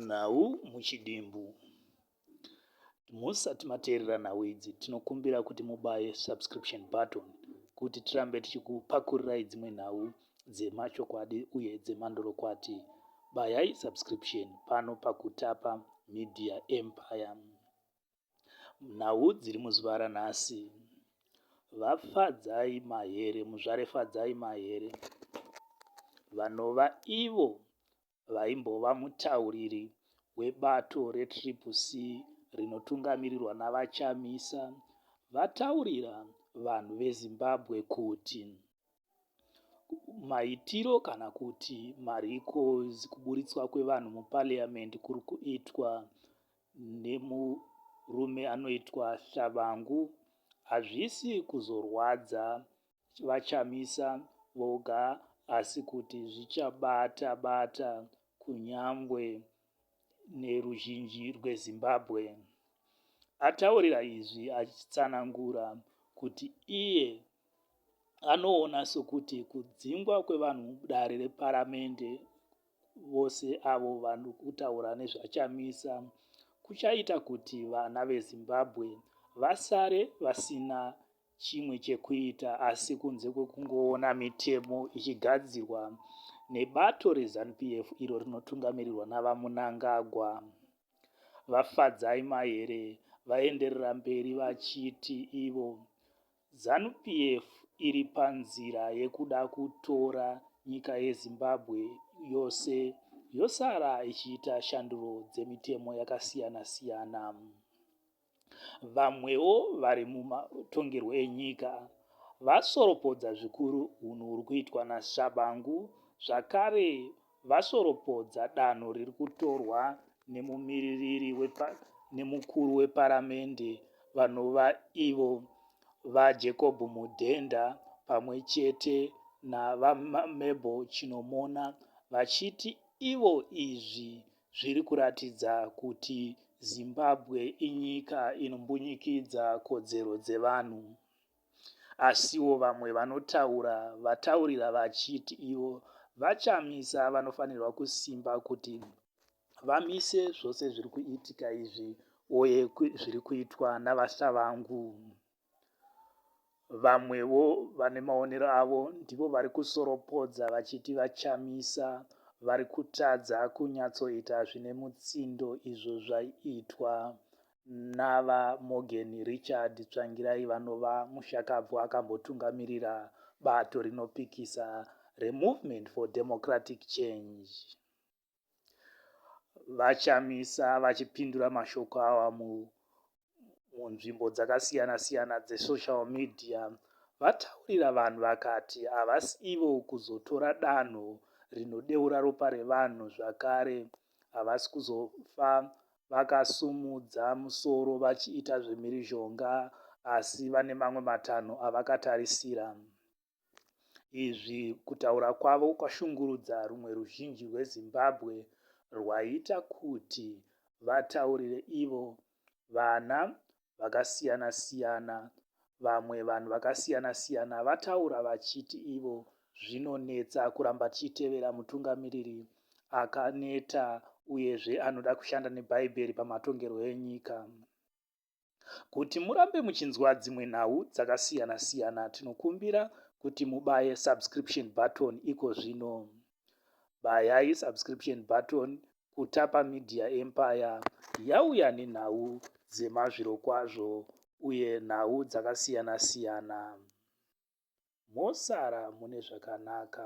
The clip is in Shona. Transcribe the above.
Nhau muchidimbu. Musati mateerera nhau idzi tinokumbira kuti mubaye subscription button kuti tirambe tichikupakurirayi dzimwe nhau dzemachokwadi uye dzemandorokwati. Bayayi subscription pano paKutapa Media Empire. Nhau dziri muzuva ranhasi. VaFadzai Mahere, Muzvare Fadzai Mahere, vanova ivo vaimbova mutauriri webato reTriple C rinotungamirirwa naVaChamisa, vataurira vanhu veZimbabwe kuti maitiro kana kuti mariko kuburitswa kwevanhu muparliament kuri kuitwa nemurume anoitwa Shabangu hazvisi kuzorwadza VaChamisa voga asi kuti zvichabata bata kunyangwe neruzhinji rweZimbabwe. Ataurira izvi achitsanangura kuti iye anoona sokuti kudzingwa kwevanhu mudare reparamende vose avo vanhu kutaura nezvachamisa kuchaita kuti vana vezimbabwe vasare vasina chimwe chekuita asi kunze kwekungoona mitemo ichigadzirwa nebato rezanup f iro rinotungamirirwa navamunangagwa vafadzai mahere vaenderera mberi vachiti ivo Zanu PF iri panzira yekuda kutora nyika yeZimbabwe yose yosara ichiita shanduro dzemitemo yakasiyana siyana. Vamwewo vari mumatongerwo enyika vasoropodza zvikuru hunhu huri kuitwa naShabangu zvakare vasoropodza danho riri kutorwa nemumiririri wepa, nemukuru weparamende vanova ivo VaJacob Mudenda pamwe chete naVaMabel Chinomona vachiti ivo izvi zviri kuratidza kuti Zimbabwe inyika inombunyikidza kodzero dzevanhu. Asiwo vamwe vanotaura vataurira vachiti ivo VaChamisa vanofanirwa kusimba kuti vamise zvose zviri kuitika izvi uye zviri kuitwa naVaSavangu. Vamwewo vane maonero avo ndivo vari kusoropodza vachiti VaChamisa vari kutadza kunyatsoita zvine mutsindo izvo zvaiitwa naVaMorgan Richard Tsvangirai vanova mushakabvu akambotungamirira bato rinopikisa reMovement for Democratic Change. VaChamisa vachipindura mashoko awa munzvimbo dzakasiyana-siyana dzesocial media vataurira vanhu vakati havasi ivo kuzotora danho rinodeura ropa revanhu zvakare havasi kuzofa vakasumudza musoro vachiita zvemhirizhonga asi vane mamwe matanho avakatarisira. Izvi kutaura kwavo kwashungurudza rumwe ruzhinji rweZimbabwe rwaita kuti vataurire ivo vana vakasiyana siyana vamwe vanhu vakasiyana siyana vataura vachiti ivo zvinonetsa kuramba tichitevera mutungamiriri akaneta uyezve anoda kushanda nebhaibheri pamatongerwo enyika kuti murambe muchinzwa dzimwe nhau dzakasiyana siyana tinokumbira kuti mubaye subscription button iko zvino Bayai subscription button kuTapa Media Empire yauya nenhau dzemazvirokwazvo uye nhau dzakasiyana siyana. Mosara mune zvakanaka.